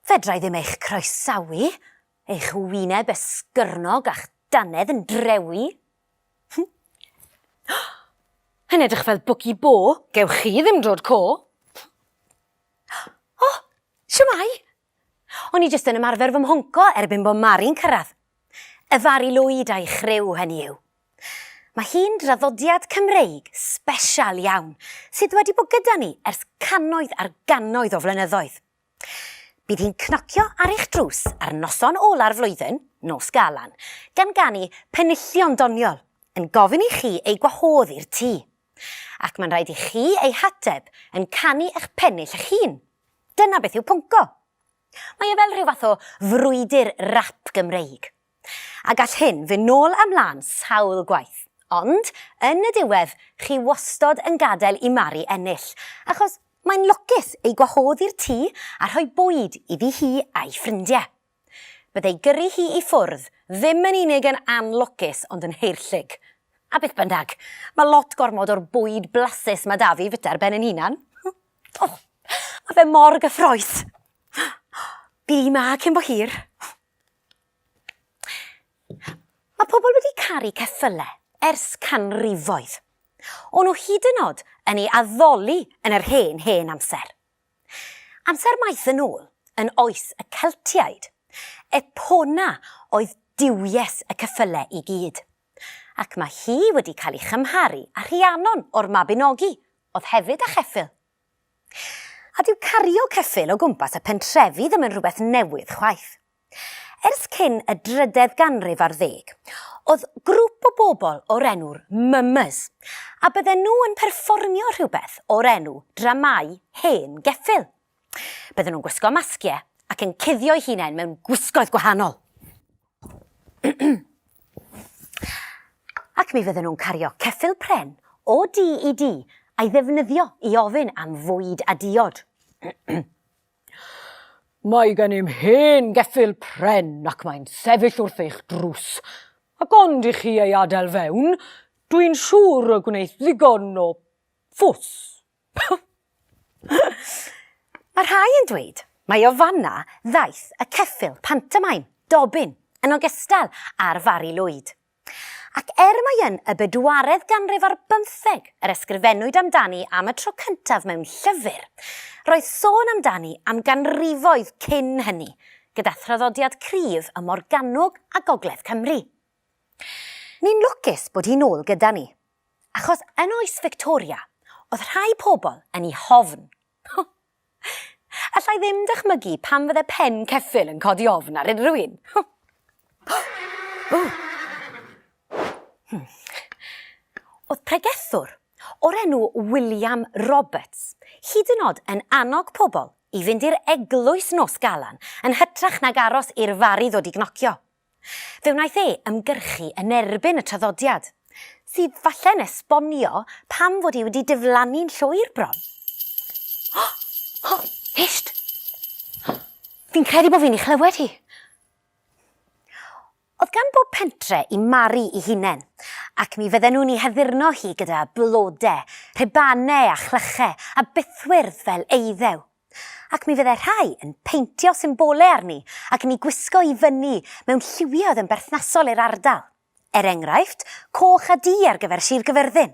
Fedrai ddim eich croesawu, eich wyneb esgyrnog a'ch dannedd yn drewi. Yn edrych fel bwci bo. Gewch chi ddim drod co. O, siwmai! O'n i jyst yn ymarfer fy mhonco erbyn bo Mari'n cyrraedd. Y Fari Lwyd a'i chriw, hynny yw. Mae hi'n draddodiad Cymreig sbesial iawn sydd wedi bod gyda ni ers cannoedd ar gannoedd o flynyddoedd. Bydd hi'n cnocio ar eich drws ar noson ola'r flwyddyn, Nos Galan, gan ganu penillion doniol, yn gofyn i chi ei gwahodd i'r tŷ. Ac mae'n rhaid i chi ei hateb yn canu eich pennill eich hun. Dyna beth yw pwnco. Mae e fel rhyw fath o frwydr rap Gymreig. A gall hyn fyn nôl a mlan sawl gwaith. Ond, yn y diwedd, chi wastod yn gadael i Mari ennill, achos mae'n lwcus ei gwahodd i'r tŷ a rhoi bwyd iddi hi a'i ffrindie. Bydd ei gyrru hi i ffwrdd ddim yn unig yn anlwcus ond yn haerllug. A beth bynnag, mae lot gormod o'r bwyd blasus mae 'da fi fita ar ben yn hunan. O, mae fe mor gyffroes. Bydd hi 'ma cyn bo hir. Mae pobl wedi caru ceffylau ers canrifoedd. O'n nhw hyd yn oed yn ei addoli yn yr hen, hen amser. Amser maith yn ôl, yn oes y Celtiaid. Epona oedd duwies y ceffylau i gyd. Ac mae hi wedi cael ei chymharu â Rhiannon o'r Mabinogi, oedd hefyd â cheffyl. A dyw cario ceffyl o gwmpas y pentrefi ddim yn rhywbeth newydd chwaith. Ers cyn y drydedd ganrif ar ddeg, oedd grŵp o bobl o'r enw'r Mummers, a bydden nhw yn perfformio rhywbeth o'r enw dramâu hen geffyl. Bydden nhw'n gwisgo masgiau ac yn cuddio'u hunain mewn gwisgoedd gwahanol. Ac mi fydden nhw'n cario ceffyl pren o du i du a'i ddefnyddio i ofyn am fwyd a diod. Mae gennym hen geffyl pren ac mae'n sefyll wrth eich drws, ac ond i chi ei adael fewn, dwi'n siŵr y gwneith ddigon o fws. Mae rhai yn dweud mai o fanna ddaeth y ceffyl pantomaim, Dobin, yn ogystal â'r Fari Lwyd. Ac er mai yn y bedwaredd ganrif ar bymtheg yr ysgrifennwyd amdani am y tro cyntaf mewn llyfr, roedd sôn amdani am ganrifoedd cyn hynny, gyda thraddodiad cryf ym Morgannwg a gogledd Cymru. Ni'n lwcus bod hi'n ôl gyda ni, Achos yn oes Victoria, oedd rhai pobl yn ei hofn. Alla i ddim dychmygu pam fydde pen ceffyl yn codi ofn ar unrhyw un. Hmm. Oedd pregethwr o'r enw William Roberts hyd yn oed yn annog pobl i fynd i'r eglwys nos galan yn hytrach nag aros i'r fari ddod i gnocio. Fe wnaeth e ymgyrchu yn erbyn y traddodiad, sydd falle'n esbonio pam fod hi wedi diflannu'n llwyr bron. O! O! Hysht! Fi'n credu bod fi'n ei chlywed hi. Oedd gan bob pentre i Mari i hunen, ac mi fydden nhw'n ei haddurno hi gyda blode, rhubanau a chlychau a bythwyrdd fel eiddew. Ac mi fyddai rhai yn peintio symbolau arni ac yn eu gwisgo i fyny mewn lliwiau oedd yn berthnasol i'r ardal. Er enghraifft, coch a du ar gyfer Sir Gyfyrddin.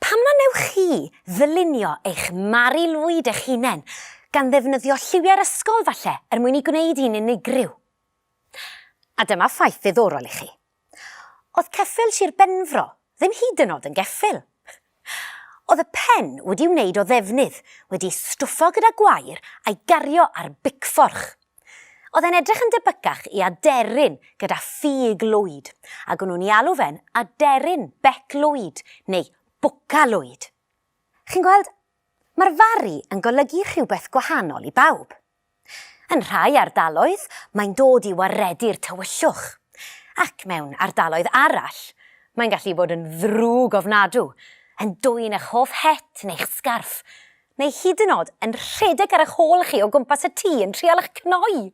Pam na wnewch chi ddylunio eich Mari Lwyd eich hunain, gan ddefnyddio lliwiau'r ysgol falle, er mwyn ei gwneud hi'n unigryw? A dyma ffaith ddiddorol i chi. Oedd ceffyl Sir Benfro ddim hyd yn oed yn geffyl. Oedd y pen wedi'i wneud o ddefnydd, wedi'i stwffo gyda gwair a'i gario ar bicfforch. Oedd e'n edrych yn debycach i aderyn gyda ffug lwyd, ac o'n nhw'n 'i alw fe'n aderyn bec lwyd, neu bwca lwyd. Chi'n gweld, mae'r Fari yn golygu rhywbeth gwahanol i bawb. Yn rhai ardaloedd, mae'n dod i waredu'r tywyllwch, ac mewn ardaloedd arall, mae'n gallu bod yn ddrwg ofnadw, yn dwyn eich hoff het neu'ch sgarff, neu hyd yn o'd yn rhedeg ar eich hôl chi o gwmpas y tŷ yn trial eich cnoi!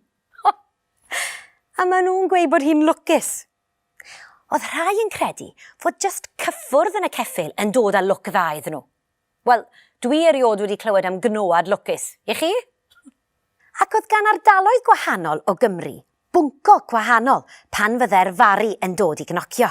A maen nhw'n gweud bod hi'n lwcus! Oedd rhai yn credu fod jyst cyffwrdd yn y ceffyl yn dod â lwc dda iddyn nhw. Wel, dwi eriod wedi clywed am gnoad lwcus, i chi? Ac oedd gan ardaloedd gwahanol o Gymru bwnco gwahanol pan fyddai'r fari yn dod i gnocio.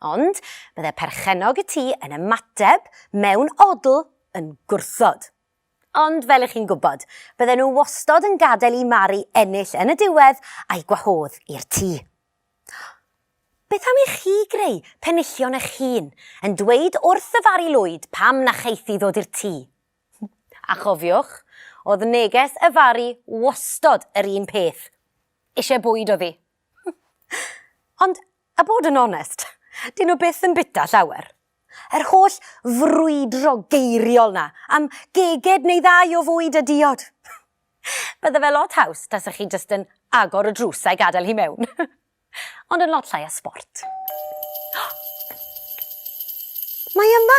Ond bydde perchennog y tŷ yn ymateb mewn odl yn gwrthod. Ond fel 'ych chi'n gwybod, bydden nhw wastod yn gadael i Mari ennill yn y diwedd a'i gwahodd i'r tŷ. Beth am i chi greu penillion eich hun, yn dweud wrth y Fari Lwyd pam na cheiff hi ddod i'r tŷ? A chofiwch, oedd neges y Fari wastod yr un peth, 'Isie bwyd oedd hi. Ond A bod yn onest, 'dyn nhw byth yn bita llawer. Yr holl frwydro geiriol 'na am geged neu ddau o fwyd a diod! Bydde fe lot haws tasa chi jyst yn agor y drws a'i gadael hi mewn. Ond yn lot llai o sbort. Mae yma!